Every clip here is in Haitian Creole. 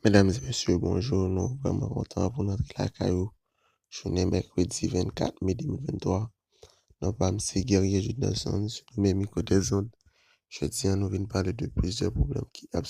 Medam e mesye bonjou nou vreman kontan pou nou antre lakay ou jounen mèkredi 24 me 2023 non pam se Guerrier Judelson sou premye mikro dè zond jodi an nou vin pale de plizyè pwoblèm ki ap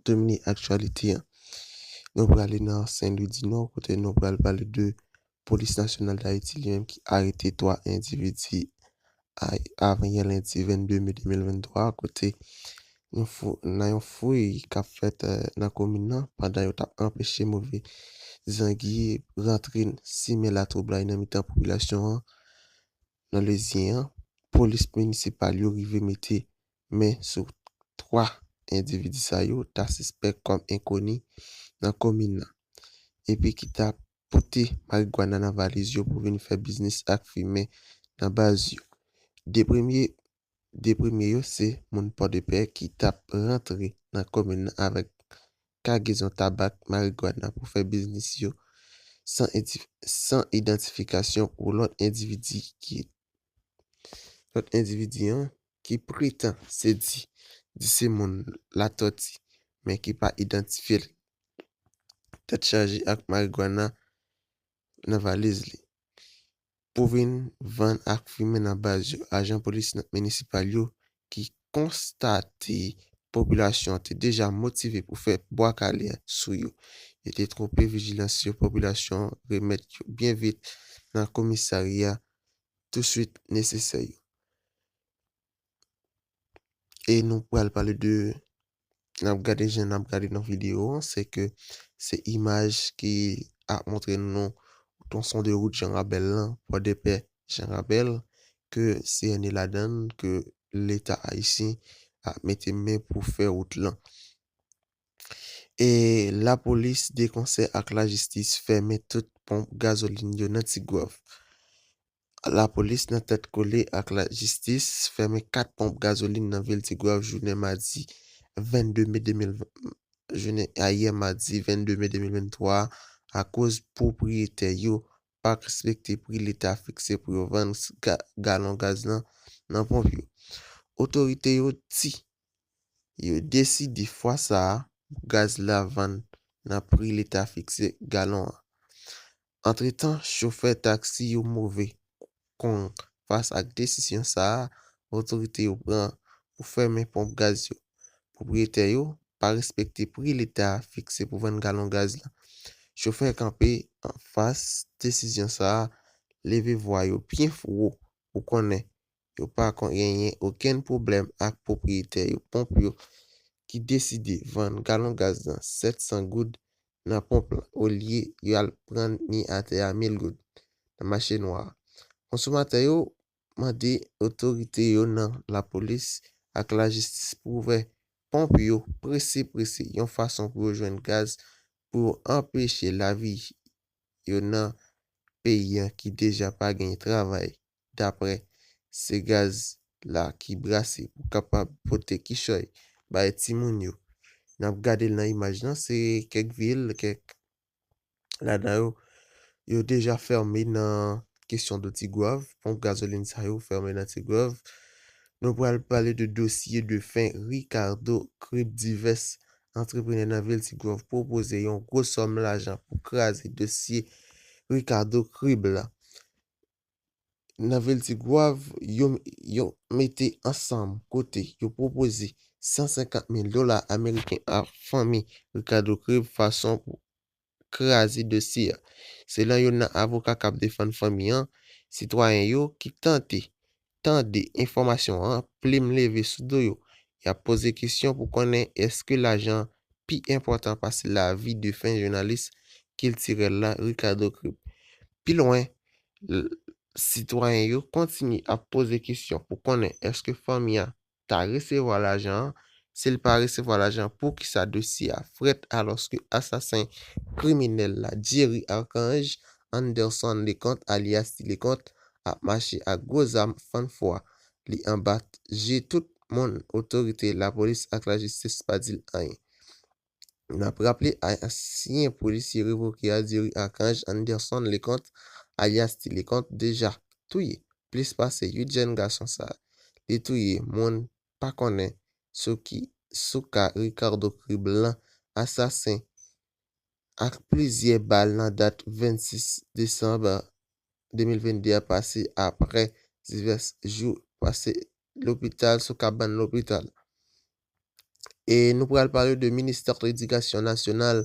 domine aktyalite an nou prale nan Sen Lwi di Nò kote nou pral pale de Polis Nasyonal Dayiti li menm ki arete 3 endividi avan-yè lendi 22 me 2023 a kote nan yon fouy k ap fèt nan komin nan pandan yo t ap anpeche move zangi rantre simen latwoublay nan mitan popilasyon an nan Lezyen an, polis minisipal yo rive mete men sou 3 endividi sa yo ta sispèk kòm enkoni nan komin nan epi ki t ap pote marigwana nan valiz yo pou vin fè biznis ak fimen nan baz yo. 2 premye 2 premye yo se moun Pòdepè ki t ap rantre nan komin nan avèk kagezon tabak, marigwana pou fè biznis yo san san idantifikasyon pou lòt endividi ki lòt endividi an. ki pretan se di di se moun Latoti men ki pa idantifye l tèt chaje ak marigwana nan valiz li pou vin vann ak fimen nan baz yo ajan polis minisipal yo ki konstate popilasyon an te deja motive pou fè bwa kale sou yo yo te twonpe vijilans yo popilasyon remèt yo byen vit nan komisarya touswit nesesè yo. E nou pral pale de, n ap gade jan n ap gade nan videyo an, se ke se imaj ki ap montre nou twonson de wout Janrabèl lan, Pòdepè, Janrabèl, ke CNE ladan l, ke Leta ayisyen ap mete men pou fè wout lan. Lapolis de konsè ak lajistis fèmen tout ponp gazolin yo nan Tigwav. Lapolis nan tèt kole ak lajistis fèmen 4 ponp gazolin nan vil Tigwav jounen madi 22 me 2023 jounen ayè madi 22 me 2023 a koz pwopriyetè yo pa respekte pri leta fikse pou yo vann galon gaz nan nan ponp yo. Otorite yo di. yo deside fwa sa a pou gaz la vann nan pri leta fikse galon an. Antretan chofè taksi yo move kong fas ak desisyon sa a otorite yo pran pou fèmen ponp gaz yo. Pwopriyetè yo pa respekte pri leta fikse pou vann galon gaz la. Chofè kanpe anfas desizyon sa a leve vwa yo byen wo pou konnen yo pa genyen okenn pwoblèm ak pwopriyetè yo ponp yo ki deside vann galon gaz nan 700 goud nan ponp lan olye yo al prann ni atè a 1000 goud nan mache nwa a. Konsomatè yo mande otorite yo nan lapolis ak lajistis pou ouvè ponp yo prese prese yon fason pou yo jwenn gaz pou yo anpeche lavi yo nan peyi an ki deja pa genyen travay dapre se gaz la ki brase pou kapab pote kichòy bay timoun yo. N ap gade l nan imaj lan, se kèk vil, kèk ladan yo, yo deja fèmen nan kesyon do Tigwav, ponp gazolin sa yo fèmen nan Tigwav. Nou pral pale de dosye de fen Ricardo Krip Divès antreprenè nan vil Tigwav pwopoze yon gwo sòm lajan pou kraze dosye Ricardo Krib la. nan vil Tigwav yo mete ansanm kote yo pwopoze 150 mil dola ameriken a fanmi Ricardo Creve fason pou kraze dosye a. Selon youn nan avoka k ap defann fanmi an, sitwayen yo ki tante tande enfòmasyon an, plim leve sou do yo. Y ap poze kesyon pou konnen èske lajan pi enpòtan pase lavi defen jounalis kiltirèl la Ricardo Crip. Pi lwen, l, sitwayen yo kontinye ap poze kesyon pou konnen èske fanmi a ta resevwa lajan an, si l pa resevwa lajan an poukisa dosye a frèt alòske asasen kriminèl la Jerry Archange, Anderson Leconte alyas Ti Leconte, ap mache ak gwo zam fann fwa li anba je tout moun otorite lapolis ak lajistis pa di l anyen. N ap raple ansyen polisye revoke a diri Archange Anderson Leconte alyas Ti Leconte deja touye plis pase 8 jèn gason sa li touye moun pa konnen sou ki sou ka Ricardo Criblan asasen ak plizyè bal nan dat 26 desanm 2022 a pase aprè divès jou pase lopital sou kabann lopital. E nou pral pale de Ministè Ledikasyon Nasyonal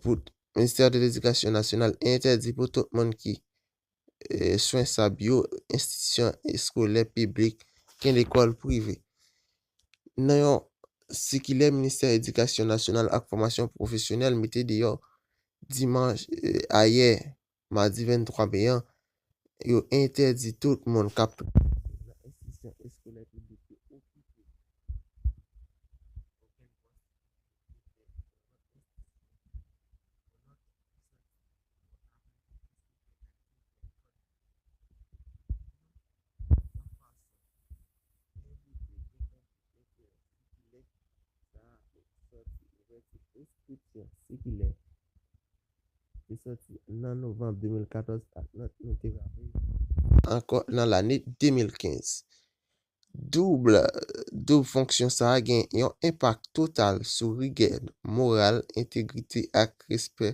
pou Ministè de Ledikasyon Nasyonal entèdi pou tout moun ki swen sa byo enstitisyon eskolè piblik gen lekòl prive. Nan yon sikilè Ministè Edikasyon Nasyonal ak Fòmasyon Pwofesyonèl mete deyò dimanch ayè madi 23 me an, yo entèdi tout moun k ap travay nan enstitisyon eskolè piblik yo okipe okenn pòs ki soti nan yon lòt enstitisyon. te soti nan novanm 2014 ak nòt nou te rale ankò nan lane 2015. Doub doub fonksyon sa a gen yon enpak total sou rigè moral, entegrite ak respè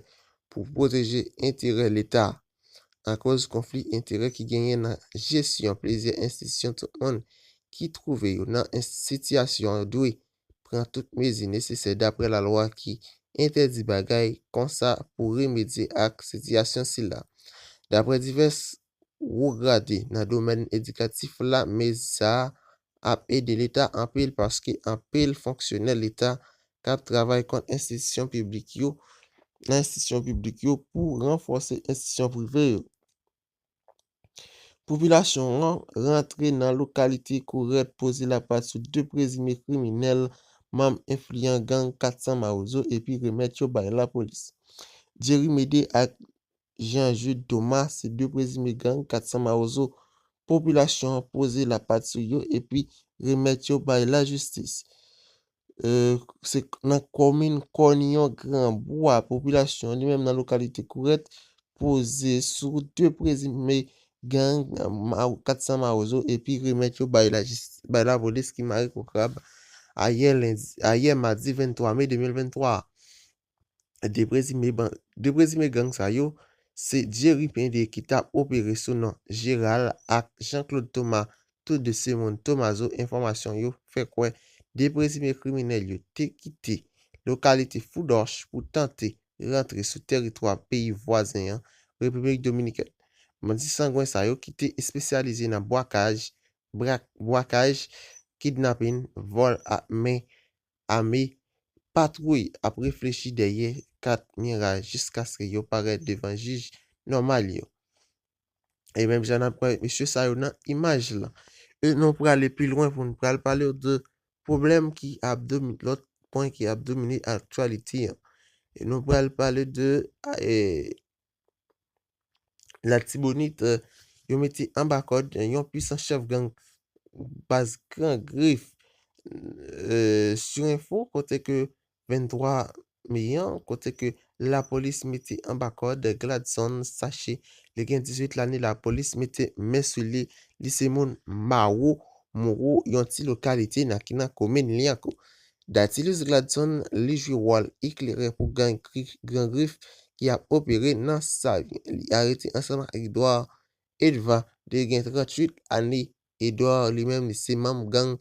pou pwoteje enterè Leta. Akoz konfli enterè ki genyen nan jesyon plizyè enstitisyon tout moun ki twouve yo nan sitiyasyon yo dwe pran tout mezi nesesè dapre lalwa ki entèdi bagay konsa pou remedye ak sitiyasyon sila. Dapre divès wo grade nan domèn edikatif la mezi sa ap ede leta anpil paske anpil fonksyonè leta k ap travay kont enstitisyon piblik yo nan enstitisyon piblik yo pou ranfòse enstitisyon prive yo. Popilasyon an rantre nan lokalite Korèt poze lapat sou 2 prezime kriminèl manm enfliyan gang 400 Mawozo epi remèt yo bay lapolis. Jerry Mede ak Jean Jude Thomas se 2 prezime gang 400 Mawozo popilasyon an poze lapat sou yo epi remèt yo bay lajistis. se nan komin Kòniyon Granbwa popilasyon li menm nan lokalite Kourèt poze sou 2 prezime gang 400 Mawozo epi remèt yo bay lapolis ki mare kou krab ayè madi 23 me 2023 a. 2 prezime gang sa yo se Jerry Pende ki tap opere sou non Jeral ak Jean Claude Thomas tou 2 se moun Tomazo enfòmasyon yo fè kwè 2 prezime kriminèl yo te kite lokalite Foudòch pou tante rantre sou tèritwa peyi vwazen an Repiblik Dominikèn bandi sangwen sa yo ki te espesyalize nan bwakaj, brakaj, kidnapin, vòl ak men ame patwouy ap reflechi dèyè kat mira jiskaske yo parèt devan jij nòmal yo. E menm jan nap wè mesye sa yo nan imaj lan. E nou prale pi lwen pou nou pral palew de pwoblèm ki ap domine, lòt pwen ki ap domine aktyalite an. E nou pral pale de Latibonit, yo mete anba kòd yon pwisan chèf gang baz Gran Grif. Sur Info, kote ke 23 me an, kote ke lapolis mete anba kòd Gladson Sache, li gen 18 lane, lapolis mete men sou li, li se moun Mawo, Mouro, yon ti lokalite nan ki nan komin Lyankou. Datilus Gladson li jwe wòl eklerè pou gang Gran Grif ki ap opere nan Savyen. Li arete ansanm ak Edouard Edva 2 gen 38 ane. Edouard li menm li se manm gang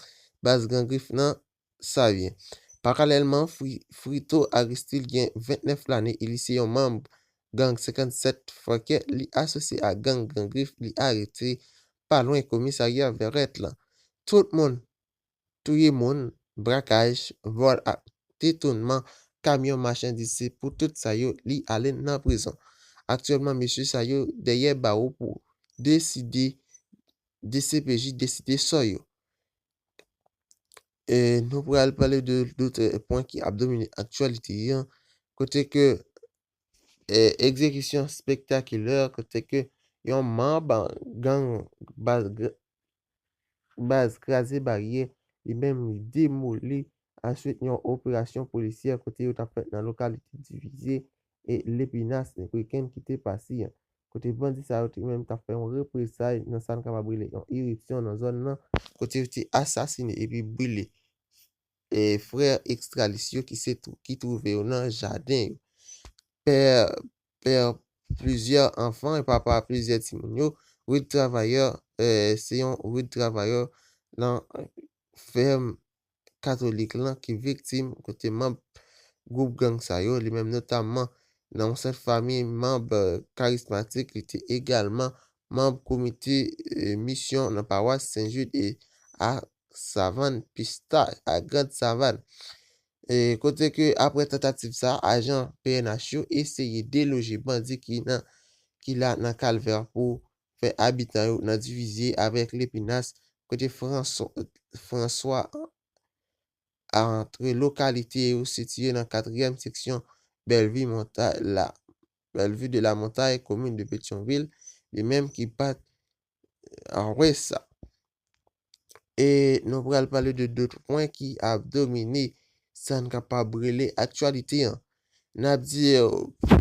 Baz Gran Grif nan Savyen. Paralèlman, Frito Aristil gen 29 lane e li se yon manm gang 57 Fòkè li asosye ak gang Gran Grif li arete pa lwen komisarya Vèrèt lan. Tout moun. touye moun, brakaj, vòl ak detounman kamyon machandiz se pou tout sa yo li ale nan prizon. Aktyèlman mesye sa yo dèyè bawo pou deside dcpj deside sò yo. E nou pral pale de lotre pwen ki ap domine aktyalite an kote ke egzekisyon spektakilè kote ke yon manb gang baz kraze baryè, li menm li demoli answit yon operasyon polisyè kote yo t ap fèt nan lokalite divize e lepinas nen weekend ki te pase an, kote bandi sa yo te menm t ap fè yon represay nan sa n kapab rele yon iripsyon nan zòn nan, kote yo te asasine epi brile frè ekstralis yo ki se ki twouve yo nan jaden yo, pè pè plizyè anfan e papa plizyè timoun yo, Rude Travailleur se yon Rude Travailleur nan fèm katolik lan ki viktim kote manb gwoup gang sa yo, li menm notamman nan yon sèt fami manb karismatik, li te egalman manb komite misyon nan pawas Sen Jid e a Savann Pistach, a Grand Savann. Kote ke apre tantativ sa, ajan pnh yo eseye deloje bandi ki nan ki la nan kalvè pou fè abitan yo nan divizye avèk Lepinas kote Franswa antre lokalite yo sitiye nan katriyèm seksyon Bellevue Montagne la Bellevue de la Montagne komin de Petyonvil li menm ki pat Apre sa, e nou pral pale de de pwen ki ap domine sa n kapab rele aktyalite an. N ap di yo premye pwen ki ap domine.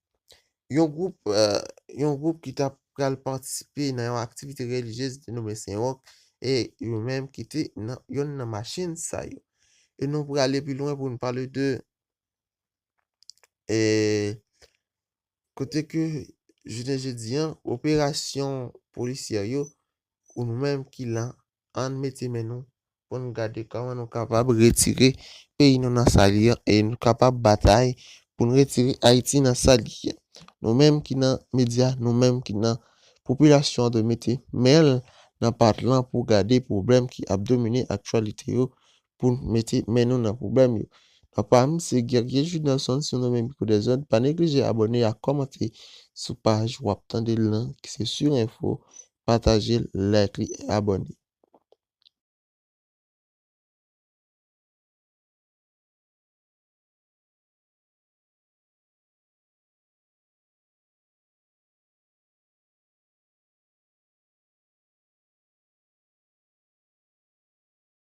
Yon gwoup yon gwoup ki ta pral patisipe nan yon aktivite relijyez ki te nome Sen Wòk e yo menm ki te nan yonn nan machin sa yo. E nou prale pi lwen pou nou pale de e kote ke jounen jodi an operasyon polisyè yo ou nou menm ki lan ann mete men nou pou n gade kòman nou kapab retire peyi nou nan sa li an e nou kapab batay pou n retire Ayiti nan sa li ye. Nou menm ki nan medya, nou menm ki nan popilasyon an dwe mete men l nan pat lan pou gade pwoblèm ki ap domine aktyalite yo poun mete men nou nan pwoblèm yo. Nan pam se Guerrier Judelson si w renmen mikro dezòd pa neglije abòne ak kòmante sou paj wap tande l lan ki se Sur Info, pataje l, like li e abòne.